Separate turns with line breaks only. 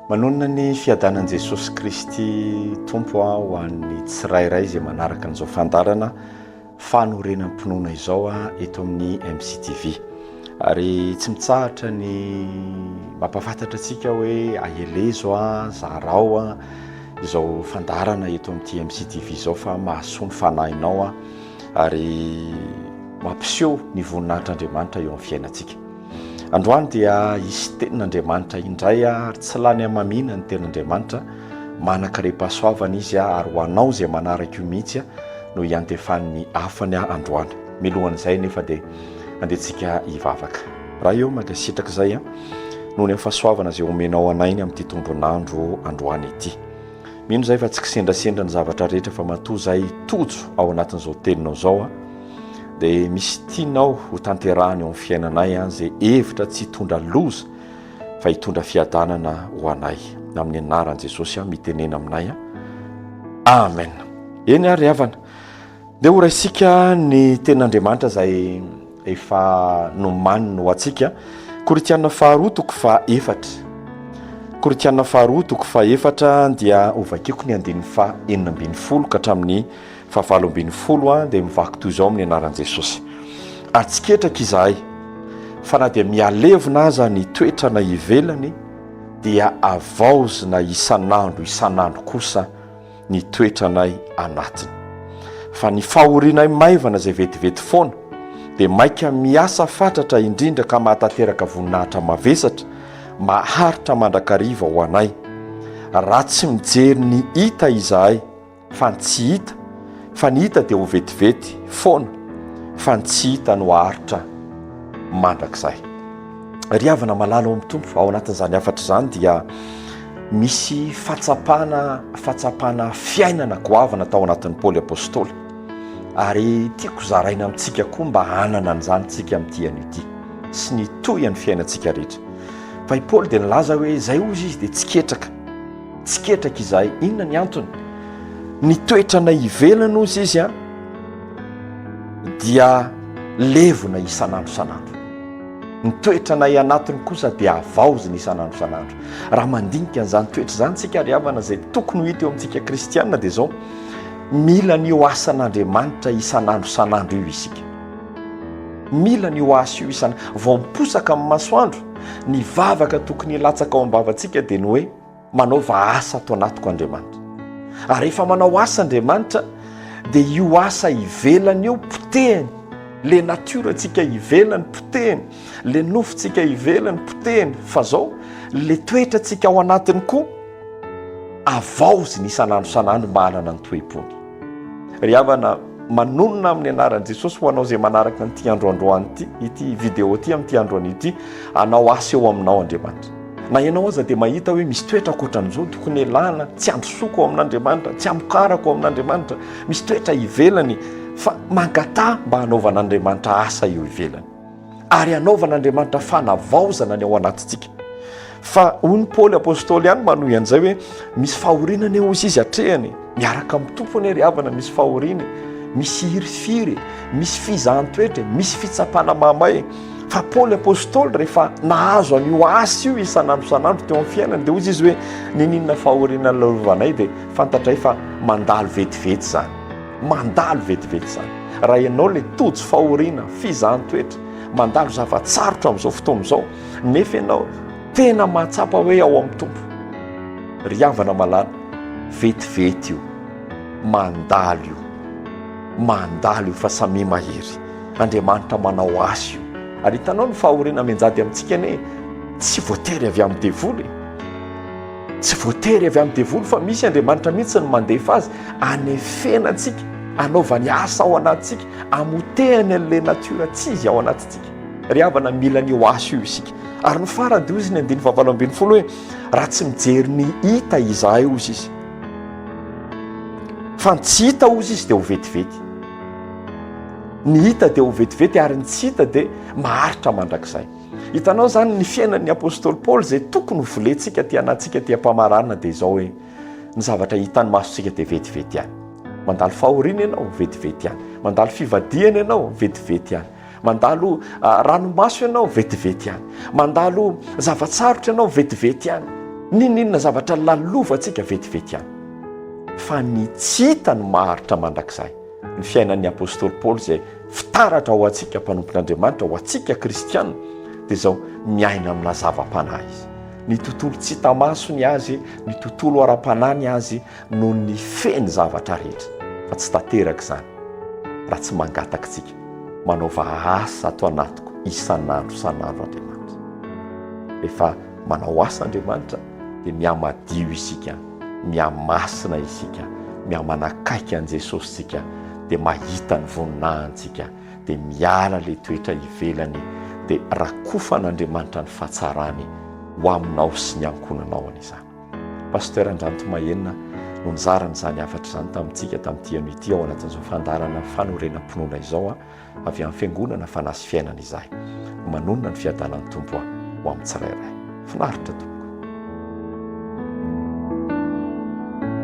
Manonona ny fiadanan'i Jesosy Kristy Tompo ho an'ny tsirairay izay manaraka an'izao fandaharana fanorenam-pinoana izao eto amin'ny MCTV. Ary tsy mitsahatra ny mampafantatra antsika hoe aelezo a, zarao a, izao fandaharana eto amin'ity MCTV izao fa mahasoa ny fanahinao a, ary mampiseho ny voninahitr'Andriamanitra eo amin'ny fiainantsika. Androany dia hisy tenin'Andriamanitra indray ary tsy lany hamamiana ny tenin'Andriamanitra, manan-karem-pahasoavana izy ary ho anao izay manaraka io mihitsy no hiantefany ny hafany androany. Milohan'izay anefa dia andehantsika hivavaka. Ray ô, mankasitraka izay noho ny fahasoavana izay omenao anay ny amin'ity tombon'andro androany ity. Mino izay fa tsy kisendrasendra ny zavatra rehetra fa matoa izay tojo ao anatin'izao teninao izao. dia misy tianao ho tanterahany eo amin'ny fiainanay an izay hevitra tsy hitondra loza fa hitondra fiadanana ho anay amin'ny anaran'i Jesosy an mitenena aminay an amen eny ary havana dia ho raisika ny ten'Andriamanitra izay efa nomaniny ho antsika koritiana faharoa toko fa efatra koritiana faharoa toko fa efatra dia hovakiko ny andininy fa enina ambin'ny folo ka hatramin'ny Fa valo ambin'ny folo a dia mivaky toy izao amin'ny anaran'i Jesosy. Atsiketraka izahay fa na dia mihalevona aza ny toetrana ivelany dia avaozina isan'andro isan'andro kosa ny toetranay anatiny. Fa ny fahorianay maivana izay vetivety foana dia maika miasa fatratra indrindra ka mahatanteraka voninahitra mavesatra maharitra mandrakariva ho anay. Raha tsy mijery ny hita izahay, Fa ny tsy hita, fa ny hita dia ho vetivety foana, fa ny tsy hita no haharitra mandrakizay. Ry havana malala ao amin'ny Tompo, ao anatin'izany hafatra izany dia misy fahatsapana, fahatsapana fiainana goavana tao anatin'ny Paoly Apôstôly. Ary tiako zaraina amintsika koa mba hanana an'izany tsika amin'ity anio ity sy ny tohin'ny fiainantsika rehetra. Fa i Paoly dia nilaza hoe izay hozy izy dia tsy ketraka. Tsy ketraka izahay. Inona ny antony? Ny toetranay ivelany ozy izy a dia levona isan'andro isan'andro. Ny toetranay anatiny kosa dia havaozina isan'andro isan'andro. Raha mandinika an'izany toetra izany isika ry havana izay tokony ho hita eo amintsika kristiana dia izao, mila ny ho asan'Andriamanitra isan'andro isan'andro io isika. Mila ny ho asa io isan'andro. Vao miposaka amin'ny masoandro Ny vavaka tokony hilatsaka ao am-bavantsika dia ny hoe, Manaova asa ato anatiko Andriamanitra. Ary rehefa manao asa Andriamanitra, dia io asa ivelany io potehiny, ilay natiorantsika ivelany potehiny, ilay nofontsika ivelany potehiny, fa izao ilay toetrantsika ao anatiny koa avaoziny isan'andro isan'andro mba hanana ny toe-pony. Ry havana, manonona amin'ny anaran'i Jesosy ho anao izay manaraka an'ity andro androany ity, ity vidéo ity amin'ity andro anio ity, hanao asa eo aminao Andriamanitra. Na ianao aza dia mahita hoe misy toetra ankoatran'izao tokony elana, tsy androsoko ao amin'Andriamanitra, tsy amokarako ao amin'Andriamanitra, misy toetra ivelany fa mangataha mba hanaovan'Andriamanitra asa eo ivelany. ary hanaovan'Andriamanitra fanavaozana ny ao anatintsika. Fa hoy ny Paoly Apôstôly ihany manohy an'izay hoe misy fahoriana anie hozy izy atrehany, miaraka amin'ny Tompo anie ry havana misy fahoriana, misy hirifiry, misy fizahan-toetra, misy fitsapana mahamay. Fa Paoly Apôstôly rehefa nahazo an'io asa io isan'andro isan'andro teo amin'ny fiainany dia hozy izy hoe nininona fahoriana lovanay dia fantatray fa mandalo vetivety izany. Mandalo vetivety izany. Raha ianao ilay tojo fahoriana, fizahan-toetra, mandalo zava-tsarotra amin'izao fotoana izao, nefa ianao tena mahatsapa hoe ao amin'ny Tompo, ry havana malala, vetivety io, mandalo io, mandalo io fa samia mahery. Andriamanitra manao asa io. Ary hitanao ny fahoriana mianjady amintsika anie, tsy voatery avy amin'ny devoly e. Tsy voatery avy amin'ny devoly fa misy Andriamanitra mihitsy no mandefa azy hanefena antsika, hanaovany asa ao anatintsika, hamotehany an'ilay natiora tsy izy ao anatintsika. Ry havana, mila an'io asa io isika. Ary ny farany dia hoy izy ny andininy fahavalo ambin'ny folo hoe, raha tsy mijery ny hita izahay hozy izy, fa ny tsy hita hozy izy dia ho vetivety. Ny hita dia ho vetivety ary ny tsy hita dia maharitra mandrakizay. Hitanao izany ny fiainan'ny apostoly Paoly izay tokony ho volentsika aty anatintsika aty am-pamaranana dia izao hoe ny zavatra hitan'ny masontsika dia vetivety ihany. Mandalo fahoriana ianao, vetivety ihany. Mandalo fivadihana ianao, vetivety ihany. Mandalo ah, ranomaso ianao, vetivety ihany. Mandalo zava-tsarotra ianao, vetivety ihany. Nininona zavatra lalovantsika vetivety ihany. Fa ny tsy hita ny maharitra mandrakizay. Ny fiainan'ny apostoly Paoly izay fitaratra ho antsika mpanompon'Andriamanitra, ho antsika kristiana dia izao, miaina amina zava-panahy izy. Ny tontolo tsy hita maso ny azy, ny tontolo ara-panahy ny azy no ny feny zavatra rehetra fa tsy tanteraka izany raha tsy mangatakitsika manaova asa ato anatiko isan'andro isan'andro Andriamanitra. Rehefa manao asa Andriamanitra dia mihamadio isika. mihamasina isika, mihamanakaiky an'i Jesosy isika, dia mahita ny voninahintsika, dia miala ilay toetra ivelany, dia rakofan'Andriamanitra ny fahatsarany ho aminao sy ny ankohonanao any izany. Pasteur Andranto Mahenina no nizara an'izany hafatra izany tamintsika tamin'ity anio ity ao anatin'izao fandaharana fanorenam-pinoana izao. avy amin'ny fiangonana fanahy sy fiainana izahay. Manonona ny fiadanan'ny Tompo aho ho amin'ny tsirairay. Finaritra tompoko.